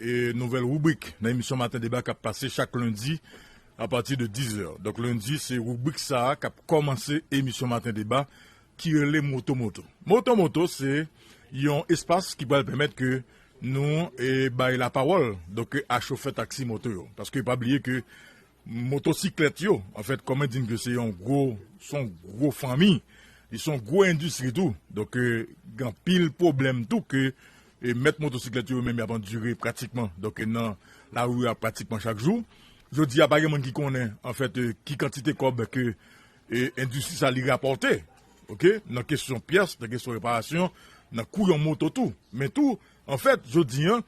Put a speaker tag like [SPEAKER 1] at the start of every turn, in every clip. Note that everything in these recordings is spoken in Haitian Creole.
[SPEAKER 1] E nouvèl rubrik nan emisyon maten deba kap pase chak lendi a pati de 10 zè. Donk lendi se rubrik sa a kap kòmanse emisyon maten deba ki rele moto moto. Moto moto se yon espas ki pral pèmèt ke nou bay lapawòl donk a chofè taksi moto yo. Paske pa bliye ke Motosiklèt yo, an fèt, kòm mwen di n ke se yon gwo, se yon gwo fanmi, li se yon gwo endistri tou. Donk, gen anpil pwoblèm tou ke mèt motosiklèt yo menm y ap andire pratikman, donk, nan lari a pratikman chak jou. Jodi a pa gen moun ki konnen, an fèt, ki kantite kòb ke endistri sa li rapòte, oke, nan kesyon pyès, nan kesyon reparasyon, nan kou yon moto tou. Men tou, an fèt, jodi an,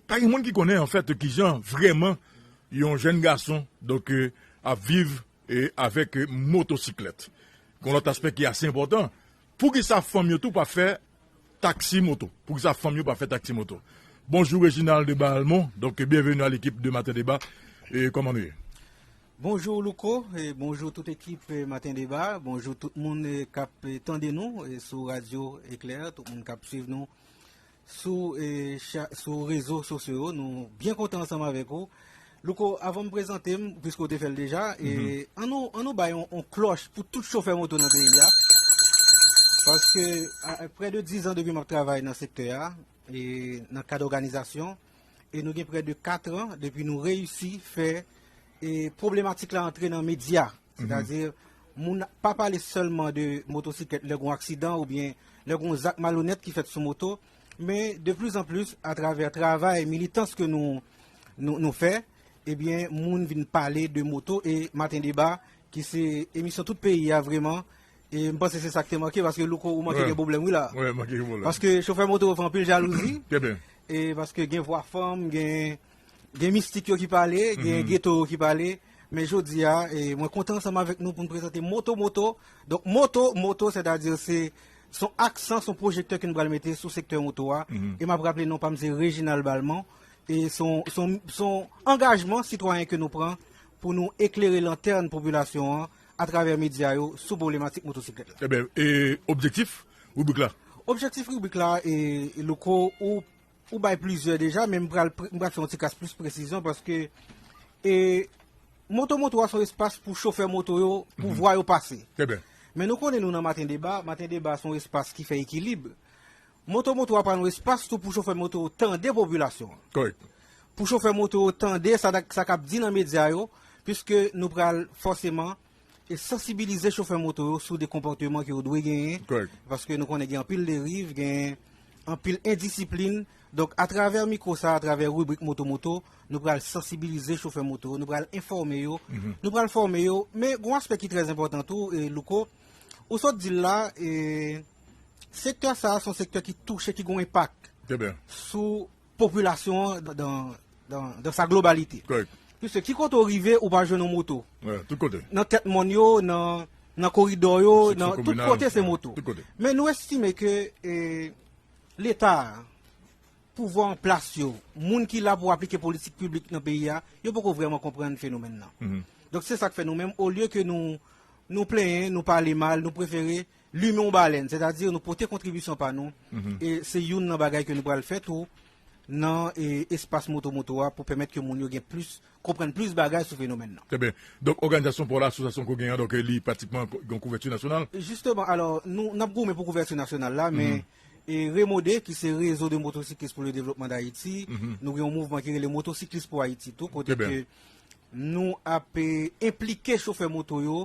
[SPEAKER 1] Pa gen moun ki konnen anfèt ki jan vrèman yon jèn gason donk ap viv avèk motosiklèt. Gon lòt aspè ki ase enpòtan, pou ki sa fanm yo tou pa fè taksi moto? Pou ki sa fanm yo pa fè taksi moto? Bonjou Reginald de Bahalmon, donk byenveni a lekip de Maten Deba, kòman nou ye? Bonjou
[SPEAKER 2] Louko, bonjou tout ekip Maten Deba, bonjou tout moun k ap tande nou sou radyo Eklè, tout moun k ap swiv nou. sou rezo sosyo yo nou byen kontan ansanm avèk ou Louko avan m prezante m piske ou te fè l deja an nou bay yon klòch pou tout chofè moto nan peyi a paske prè de 10 an depi m ap travay nan sektè a nan kad òganizasyon e nou gen prè de 4 an depi nou reyisi fè problematik la antre nan medya. Sètadi, moun pa pale sèlman de motosiklèt lè gen yon aksidan oubyen lè gen yon zak malonèt ki fèt sou moto, men de plis an plis atravè travay militans ke nou fè, ebyen moun vin pale de moto e Maten Deba ki se emisyon tout peyi a vreman e m panse se sa k te manke paske Louko ou manke gen pwoblèm wi la paske
[SPEAKER 1] chofè moto yo fè
[SPEAKER 2] anpil jalouzi
[SPEAKER 1] paske gen
[SPEAKER 2] vwa fanm gen Gen mistik yo ki pale, gen geto yo ki pale Men jodi a, mwen kontan ansanm avèk nou pou n prezante Moto Moto Donk moto moto sètadi se s on aksan, s on pwojektè ke nou pral mete sou sektè moto a E m ap raple non pa m se Reginald Balmont E s on s on angajman sitwayen ke nou pran pou nou eklere lantèn popilasyon an atravè medya yo sou pwoblematik motosiklèt la Enben, e
[SPEAKER 1] objektif ribrik la? Objektif ribrik la,
[SPEAKER 2] Louko, ou Ou bay plizyè deja men m pral fè yon ti kas plis presizyon paske Moto Moto a se yon espas pou chofè moto yo pou vwa yo pase. Men nou
[SPEAKER 1] konnen nou nan Maten
[SPEAKER 2] Deba, Maten Deba se yon espas ki fè ekilib. Moto Moto a pral yon espas tou pou chofè moto yo tande popilasyon an.
[SPEAKER 1] Pou chofè
[SPEAKER 2] moto yo tande sa k ap di nan medya yo piske nou pral fòseman e sansibilize chofè moto yo sou de konpòteman ke yo dwe genyen, paske nou konnen gen anpil deriv, gen anpil endisiplin, donk atravè mikwo sa, atravè ribrik moto moto, nou pral sansibilize chofè moto, nou pral enfòme yo, nou pral fòme yo, men gon aspè ki trè zenpòtan tou, Louko, ou sot dil la, e sektè sa, son sektè ki touche, ki gon enpak, sou. Popilasyon an dan sa globalite. Piske ki kote ou rive ou pa jwenn yon moto. Nan
[SPEAKER 1] tèt mòn yo,
[SPEAKER 2] nan koridò yo, nan tout kote se moto. Men nou estime ke leta, pouvwa an plas yo, moun ki la pou aplike politik piblik nan peyi a, yo poko vreman konprann fenomèn nan. Donk se sak fè nou menm, olye ke nou plenyen, nou pale mal, nou prefere Limen yon balèn, sètadi nou pote kontribisyon pa nou, e se youn nan bagay ke nou pral fè tou nan espas Moto Moto a pou pèmèt ke moun yo gen plis, konprann plis bagay sou fenomèn nan. Trè byen. Donk
[SPEAKER 1] òganizasyon paw la, asosyasyon ke w genyen an, donk li pratikman gen yon kouvèti nasyonal? Jisteman, alò,
[SPEAKER 2] nou, nap goumen pou kouvèti nasyonal la, men REMODE, ki se Réseau de Motocyclistes pour le Développement d'Haïti, nou gen yon mouvman ki rele Motocyclistes pour Haïti tou, kote ke nou ap enplike chofè moto yo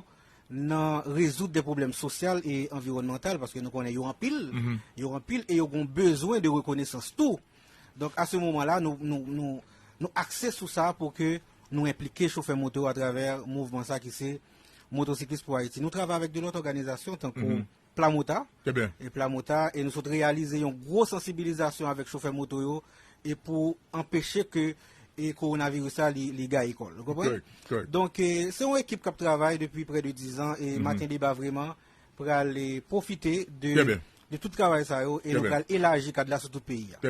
[SPEAKER 2] nan rezoud de pwoblèm sosyal e anviwònmantal, paske nou konnen yo anpil, yo anpil e yo gon bezwen de rekonesans tou. Donk, a se moman la, nou akse sou sa pou ke nou enplike chofè moto a travè mouvman sa ki se Motosiklis pou Ayiti. Nou travay avèk de lòt òganizasyon tankou. Plamota, e Plamota, e nou sot reyalize yon gwo sansibilizasyon avèk chofè moto yo, e pou anpeche ke e kowonaviris sa li gaye kò l. Ou konprann? Donk, se yon ekip k ap travay depi prè de dizan, e Maten Deba vreman pral pwofite de tout travay sa yo, e nou pral elaji kad la sou tout peyi a.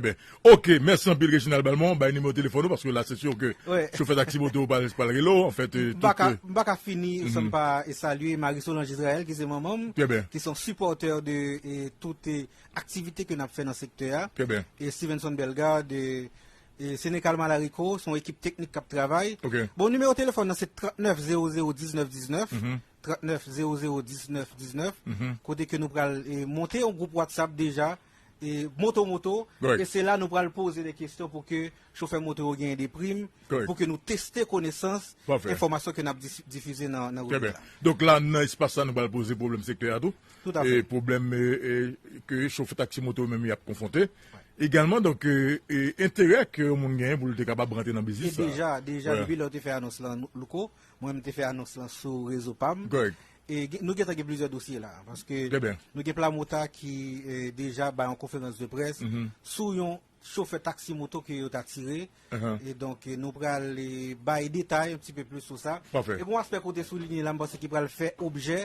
[SPEAKER 2] Ok
[SPEAKER 1] mèsi anpil Reginald Balmont bay nimewo telefòn ou paske la se sur ke chofè taksi moto yo pral rele w anfèt tout. M paka fini
[SPEAKER 2] san m pa salye Marie Solange Israël ki se manman m ki son sipòtè de tout aktivite ke n ap fè nan sektè a e Stevenson Bellegarde e Senecal Malarico son ekip teknik k ap travay bon nimewo telefòn
[SPEAKER 1] nan se
[SPEAKER 2] 39 0 0 19 19 39 0 0 19 19 kote ke nou pral monte yon gwoup WhatsApp deja. moto moto e se la nou pral
[SPEAKER 1] poze
[SPEAKER 2] de kestyon pou ke chofè moto yo genyen de prim pou ke nou teste konesans enfomasyon ke
[SPEAKER 1] nap
[SPEAKER 2] difize nan nan revue la. Donk la
[SPEAKER 1] nan espas
[SPEAKER 2] sa
[SPEAKER 1] nou pral poze pwoblèm sektè a tou e pwoblèm ke chofè taksi moto yo menm yap konfwonte egalman donk e enterè ke yon moun genyen pou li te kapab rantre nan biznis sa. E deja deja depi lè ou
[SPEAKER 2] te fè anons
[SPEAKER 1] lan
[SPEAKER 2] louko mwen menm te fè anons lan sou rezo pam E nou
[SPEAKER 1] gentan gen
[SPEAKER 2] plizyè dosye la, paske nou gen Plamota
[SPEAKER 1] ki
[SPEAKER 2] deja bay yon konferans de près sou yon chofè taksi moto ke yo ta tire, e donk nou pral bay detay yon ti pe plis sou sa. E kon aspè kote sou
[SPEAKER 1] linye
[SPEAKER 2] la, m panse ki pral fè objè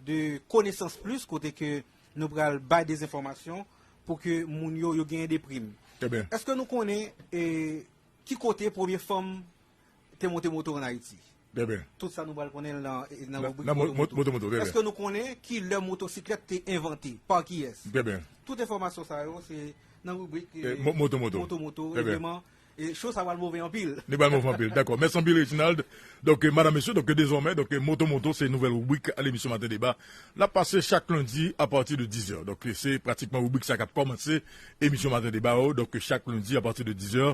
[SPEAKER 2] de konesans plis, kote ke nou pral bay de zenfòmasyon pou ke moun yo yo genyen de prim. Eske nou
[SPEAKER 1] konnen
[SPEAKER 2] ki kote premye fanm te monte moto an Ayiti? Bèbè. Tout sa
[SPEAKER 1] nou pral konnen nan
[SPEAKER 2] ribrik Moto Moto. Moto Moto, Bèbè.
[SPEAKER 1] Eske nou
[SPEAKER 2] konnen
[SPEAKER 1] ki
[SPEAKER 2] lè motosiklèt te envante? Pa kiyès? Bèbè. Tout enfòmasyon
[SPEAKER 1] sa yo
[SPEAKER 2] se nan ribrik Moto Moto. Moto
[SPEAKER 1] Moto,
[SPEAKER 2] Bèbè.
[SPEAKER 1] E show sa
[SPEAKER 2] pral move anpil. Li pral move anpil, dakò.
[SPEAKER 1] Mèsi anpil Reginald. Donk, madam, mesye, donk dezòmè, donk Moto Moto se nouvèl ribrik al emisyon Maten Deba. L ap pase chak lendi apati de dizè. Donk, se pratikman ribrik sa k ap kòmanse emisyon Maten Deba yo, donk chak lendi apati de dizè.